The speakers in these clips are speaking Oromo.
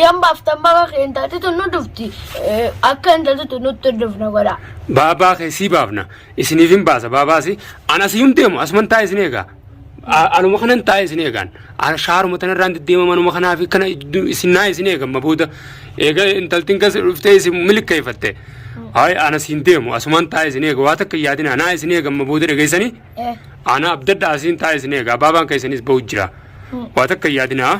Yan baaftan baga kee intalti tun nu dhufti. Eh, Akka intalti tun nutti hin dhufne godha. Baabaa kee sii baafna. Isiniif hin baasa baabaasi. An asii hin deemu asuman taa'e isin eegaa. A- Anuma kanan taa'e isin eegaan. An shaaruma tanarraan deddeema manuma kanaa fi kana iddu- isin naa isin eegan mabooda. Eega intaltiin kas dhuftee isin milkeeffatte. Hayi an asii hin deemu asuman taa'e isin eega waa takka hin yaadina naa isin eegan mabooda dhageessanii. Eh. Ana abdadha asiin taa'e isin eegaa baabaan keessanis bahu jira. Waa takka hin yaadina.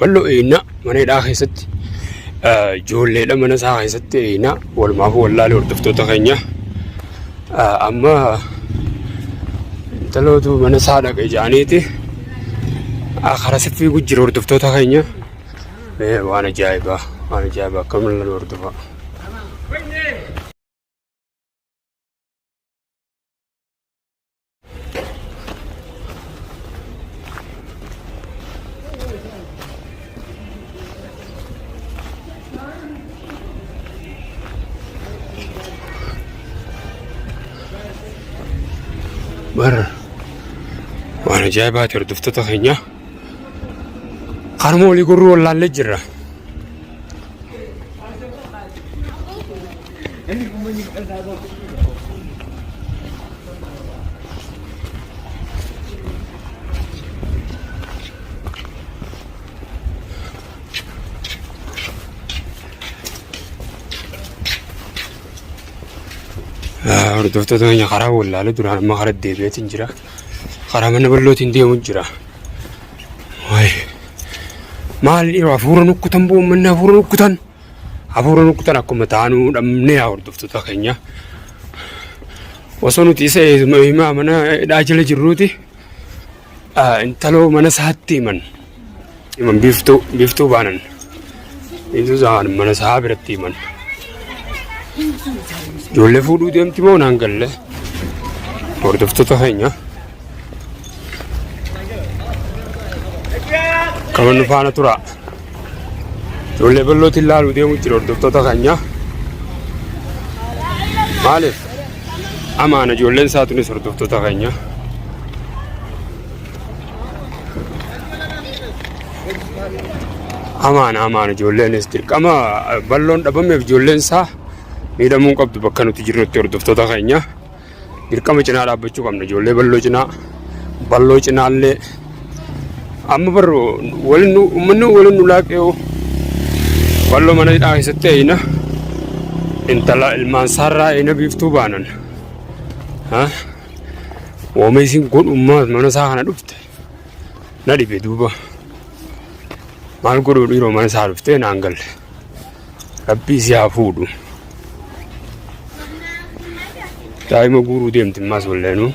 Bal'oo eeynaa mana hidhaa keessatti ijoolleedha mana isaa keessatti eeynaa walumaaf wallaalee hordoftoota keenya amma intalootu mana isaa dhaqe jedhaniiti karaa siffii gujjira hordoftoota keenya waan ajaa'ibaa waan ajaa'ibaa akka mul'atu hordofaa. bar waan ajaa'ibaati hordoftoota keenya harmoolii gurruu wallaallee jirra. Hordoftoota keenya karaa wallaalee duraan amma karaa deebi'eetiin jira. karaa mana bal'ootiin deemu jira. Maal dhiiroo hafuura nukkutan boo uummanni hafuura nukkutan hafuura nukkutan akkuma taanuu dhabnee haa hordoftoota keenya. Osoo nuti isa himaa mana hidhaa jala jirruuti intaloo mana isaatti himan. Iman biiftuu biiftuu baanan biiftuu saan mana isaa biratti iman ijoollee fuudhuu deemti moo naan galle hordoftoota keenya qaban nu faana turaa ijoollee ballootiin laaluu deemuu jira hordoftoota keenya maaliif amaana ijoolleen isaa tunis hordoftoota keenya. Amaan amaan ijoolleenis dirqama balloon dhabameef ijoolleen isaa miidhamuu hin qabdu bakka nuti jirrutti hordoftoota keenya dirqama cinaa dhaabbachuu qabna ijoollee balloo cinaa balloo cinaallee amma barru waliin nu uummanni waliin nu laaqee'u balloo mana hidhaa keessatti eeyina intala ilmaan saarraa eeyina biiftuu baanan ha Wooma isin godhummaa mana isaa kana dhufte na dhibe duuba. Maal godhuu dhiiroo mana isaa dhuftee naan galle. Rabbii si haa fuudhu. Daa'ima guuruu deemti ammaas walleenuu.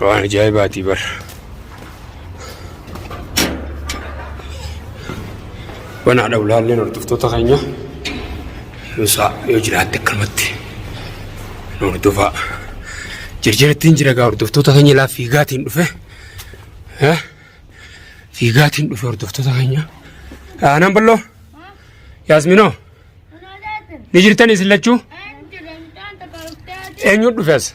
Waan ajaa'ibaatii bara. Wanaa dha ulaalleen hordoftoota keenya nuusaa yoo jiraatte akkanumatti nu hordofaa. Jirjirattiin jira gaa hordoftoota keenya laa fiigaatiin dhufe. Eh? Fiigaatiin dhufe hordoftoota keenya. Aanaan balloo Yaasminoo ni jirtan isin lachuu eenyu dhufe as?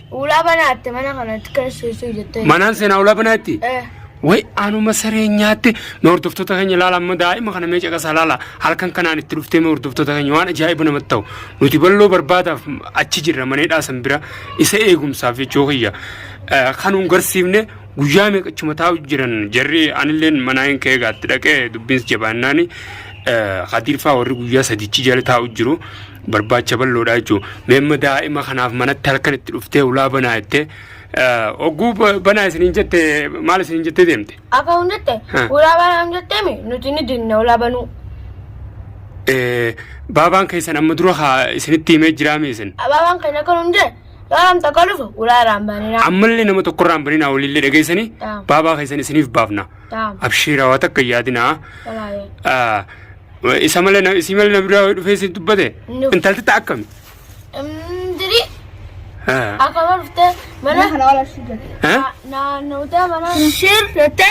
Ulaa banaa itti mana kanatti keesseessuu jettee. Manaan seenaa ulaa banaa itti? Eh. Way anuma saree nyaatte mee hordoftoota keenya ilaala amma daa'ima kana mee caqasaa ilaala halkan kanaan itti dhuftee mee hordoftoota keenya waan ajaa'iba namatti ta'u nuti balloo barbaadaaf achi jirra manee dhaasan bira isa eegumsaaf jechuu kiyya Eh, kan hin garsiifne guyyaa meeqa achuma taa'u jiran jarri anilleen manaa hin ka'ee gaatti dhaqee dubbiins jabaannaani eh, hadiirfaa warri guyyaa sadichi jala taa'u jiru barbaacha bal'oodha jechuudha. Meemma daa'ima kanaaf manatti halkan itti dhuftee ulaa banaa jettee ogguu banaa isiniin jette maal isiniin jettee deemte? Akka hundatti ulaa banaan jetteemi nuti ni dinna ulaa banuu. Baabaan keessan amma dura haa isinitti himee jiraame isin. Baabaan keenya akka hundee Yaalam takka dhufu ulaa irraan banina. Ammallee nama tokko irraan banina waliillee dhageessanii baabaa keessan isiniif baafna. Abshiiraa waa takka yaadinaa. Isa malee na- isii malee na biraa wayii dhufee siif dubbate? Nuuf. Intalti ta'a akkami? Diri Haa. akka barfte mana Mana kana wala shida. Haa? naannawte mana shir jette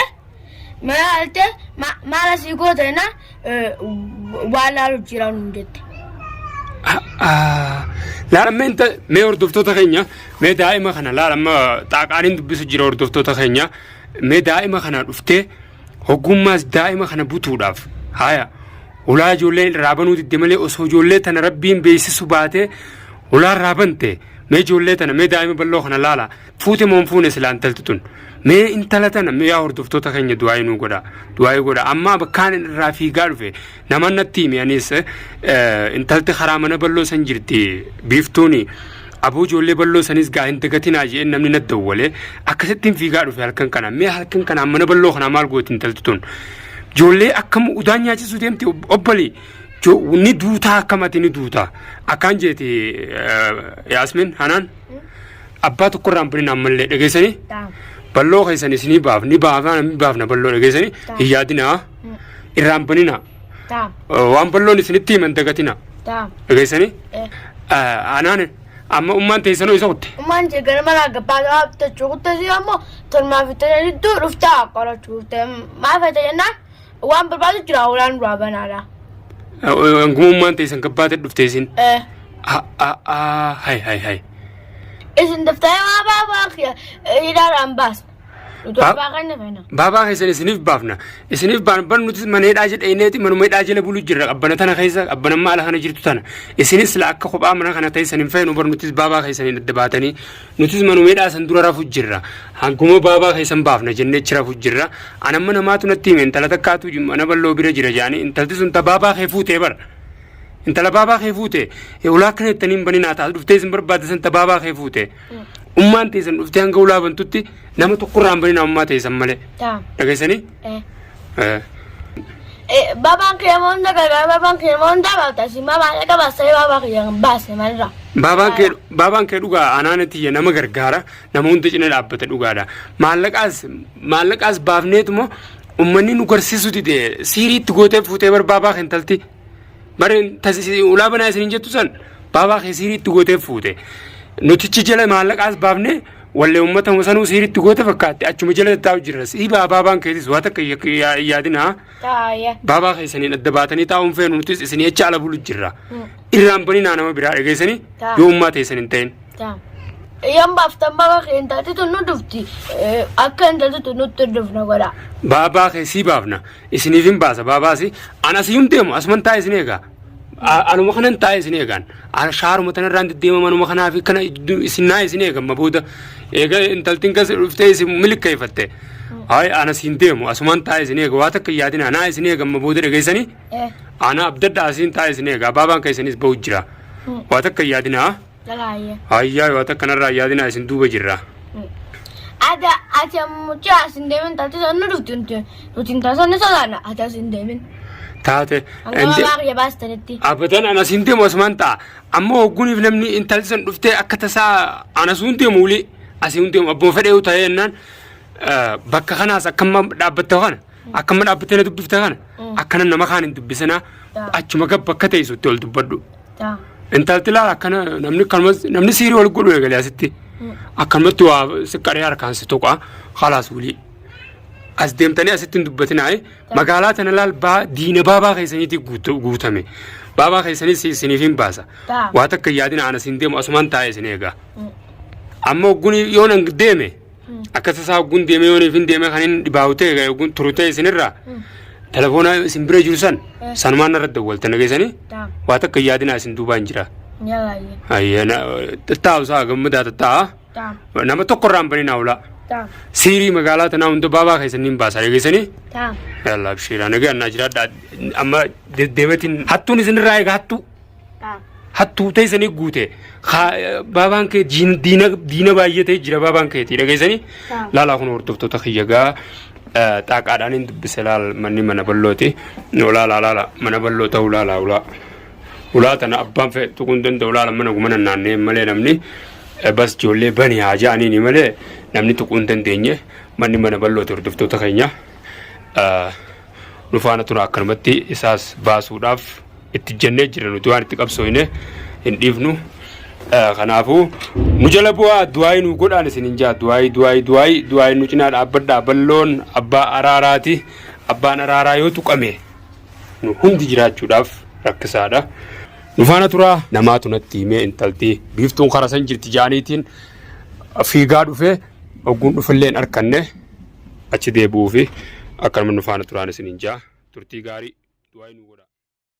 mana alte maala sii goote na waan laalu jira nu jette. Laala mee inta mee hordoftoota keenya mee daa'ima kana laala amma xaaqaaniin dubbisu jira hordoftoota keenya mee daa'ima kana dhuftee Hoggummaas daa'ima kana butuudhaaf haaya ulaa ijoolleen irraa banuu didde malee osoo ijoollee tana rabbiin beeksisu baatee ulaa irraa bante mee ijoollee tana mee daa'ima bal'oo kana laala fuute moon fuune silaa intalti tun mee intala tana mee yaa hordoftoota keenya du'aayii nuu godha du'aayii godha ammaa bakkaan irraa fiigaa dhufe Naman natti himi anis intalti karaa mana balloo san jirti biiftuuni aboo ijoollee balloo sanis gaa hin dagatinaa jeen namni natti dawwale akkasittiin fiigaa dhufe halkan kana mee halkan kana mana balloo kana maal gooti intalti tun ijoollee akkam udaan nyaachisuu deemti obbalii ni duutaa akkamati ni duutaa akkaan jeeti yaasmin hanaan abbaa tokkorraan birin ammallee dhageessanii balloo keessan isinii baaf ni baafna balloo dhageessanii hin yaadinaa. irraan banina Taam. waan balloon isinitti himan dagatina Taam. dhageessanii Eh. anaan amma ummaan teessanoo isa kutte Ummaan ishee gara manaa gabbaa ta'aa bitachuu kuttasi ammoo tolmaa fi tajaajila jidduu dhuftaa qorachuu dhufte. Maal fayyada jennaan waan barbaadu jira hoolaan duraa banaadha. hanguma ummaan teessan gabbaate dhufte isin Eh. hay hay hay Isin daftee waa baafaa kiyya hidhaadhaan baasa. Baabaa kana kana. Baabaa keessan isiniif baafna. Isiniif baan bar nuti mana hidhaa jedheeneeti manuma hidhaa jala bulu jirra qabbana tana keessa qabbanammaa ala kana jirtu tana. Isinis la akka kophaa mana kana teessan hin feenu bar nutis baabaa keessan hin adda baatanii nutis manuma hidhaa san dura rafu jirra. Hanguma baabaa keessan baafna jennee achi rafu jirra. Anamma namaatu natti hime intala takkaatu mana balloo bira jira jaanii intalti sun ta baabaa kee fuutee bara. Intala baabaa kee fuute ulaa kana ittaniin baninaa taatu dhuftee isin barbaadde san ta baabaa kee fuute. Ummaan teessan dhuftee hanga ulaa bantutti nama tokkorraa hin banina ummaa teessan malee. Taa. Dhageessanii? Eh. Eh. Eh, Babaan kee moonda gagaa babaan kee moonda baata si mamaa dhaga baasee babaa kiyya hin baase malirra. Baabaan kee baabaan kee dhugaa anaana tiyya nama gargaara nama hunda cina dhaabbata dhugaadha. Maallaqaas maallaqaas baafneetuma ummanni nu garsiisu dide siiriitti gootee fuutee bar baabaa keentalti. Bareen ulaa banaa isin jettu san baabaa kee siiriitti gootee fuute. Nutichi jala maallaqaas baafne wallee uummata sanuu siiriitti goote fakkaatti achuma jala taa'u jirra. Sii baabaan keetis waa takka yaadina. Baabaa keessaniin adda baatanii taa'uun feenu nutis isin jecha ala bulu jirra. Irraan baninaa nama biraa dhageessanii yoo ummaa teessan hin ta'in. Taam. Eyyaan baaftan baaba kee intalti tun nu dhufti. Eh, Akka intalti tun nutti hin dhufne godha. Baabaa kee sii baafna. Isiniif hin baasa baabaasi. Ana si hin deemu asuman taa'e isin eegaa. A- Anuma kanan taa'e isin eegaan. Ana shaaruma tanarraan deddeemam anuma kanaa fi kana iddu- isin naa isin eegamma booda. Eega intaltiin kas dhuftee isin milkeeffatte. Hayi ana si hin deemu asuman taa'e isin eega waa takka hin yaadina naa isin eegamma booda dhageessanii. Eh. Ana abdadhaa isin taa'e isin eegaa baabaan keessanis bahu jira. Waa takka hin yaadinaa. Lalaayee. Hayyaa yoo akka kanarraa yaadinaa isin duuba jirra. Ada ati ammuchi as hin deemin taate sannu nuti nuti nuti hin taasisne sodaanna ati as hin deemin. Taate. Hanga maqaa kiyya baastanitti. Abadan anas hin deemu asumaan ta'a. Amma hogguniif namni intalli san dhuftee akka tasaa anas hin deemu wuli asii hin deemu abbuma fedhee ta'ee jennaan bakka kanaas akkamma dhaabbatta kana. Akka amma dhaabbattee na dubbifta kana akkana nama kaan hin dubbisinaa achuma gabba akka teessutti ol dubbadhu. Intalti laala akkana namni akkanumas namni siirii ol godhu eegalee asitti akkanumatti waa siqqaree harkaan si tuqa halaas wulii. As deemtanii asitti hin dubbatinaa magaalaa tana laal baa diina baabaa keessaniitii guutu- guutame baabaa keessanii si- isiniif hin baasa waa takka hin yaadina ana siin deemu asumaan taa'ee isin eegaa. Amma ogguun yoo nan deeme Akkas isaa hogguun deemee yoo hin deemee kan inni dhibaa'u ta'e kan hogguun turu ta'e isinirraa telefoona isin bira jiru san sanumaan narra dawwaltan dhageessanii Daam. waa takka hin yaadinaa isin duubaan jira. Yalaayye. Ayyee na taa'u isaa gammadaa ta'a. Daam. Nama tokko irraa hin banin haulaa. Daam. Siirii magaalaa tanaa hunda baabaa keessanii hin baasaa dhageessanii. Daam. Yalla abshiira nagaa naa jiraadha amma deddeematiin hattuun isinirraa eega hattuu. hattuu teessanii guute baabaan kee diina baay'ee ta'e jira baabaan keetii dhageessanii laalaa kun hordoftoota kiyya gaa xaaqaadhaan hin dubbise laal manni mana ballooti ulaa laala mana balloo ta'uu laala ulaa ulaa tana abbaan fedhe tuquu hin danda'u laala mana gumana naannee malee namni bas ijoollee bani haa ja'aniini malee namni tuquu hin dandeenye manni mana ballooti hordoftoota keenya. nu faana tura akkanumatti isaas baasuudhaaf itti jennee jirra nuti waan itti qabsooyne hin dhiifnu. Eh, Kanaafuu nu jala bu'aa du'aayii nu godhaan isin hin jaa du'aayii du'aayii du'aayii du'aayii nu cinaa dhaabbadhaa balloon abbaa araaraati abbaan araaraa yoo tuqame nu hundi jiraachuudhaaf rakkisaadha. Nu faana turaa namaatu natti himee intalti biiftuun karasan jirti jaaniitiin fiigaa dhufee ogguun dhufillee hin arkanne achi deebi'uufi akkanuma nu faana turaan isiniin ja'a. Turtii gaarii. Du'aa'ii nuu godhaa.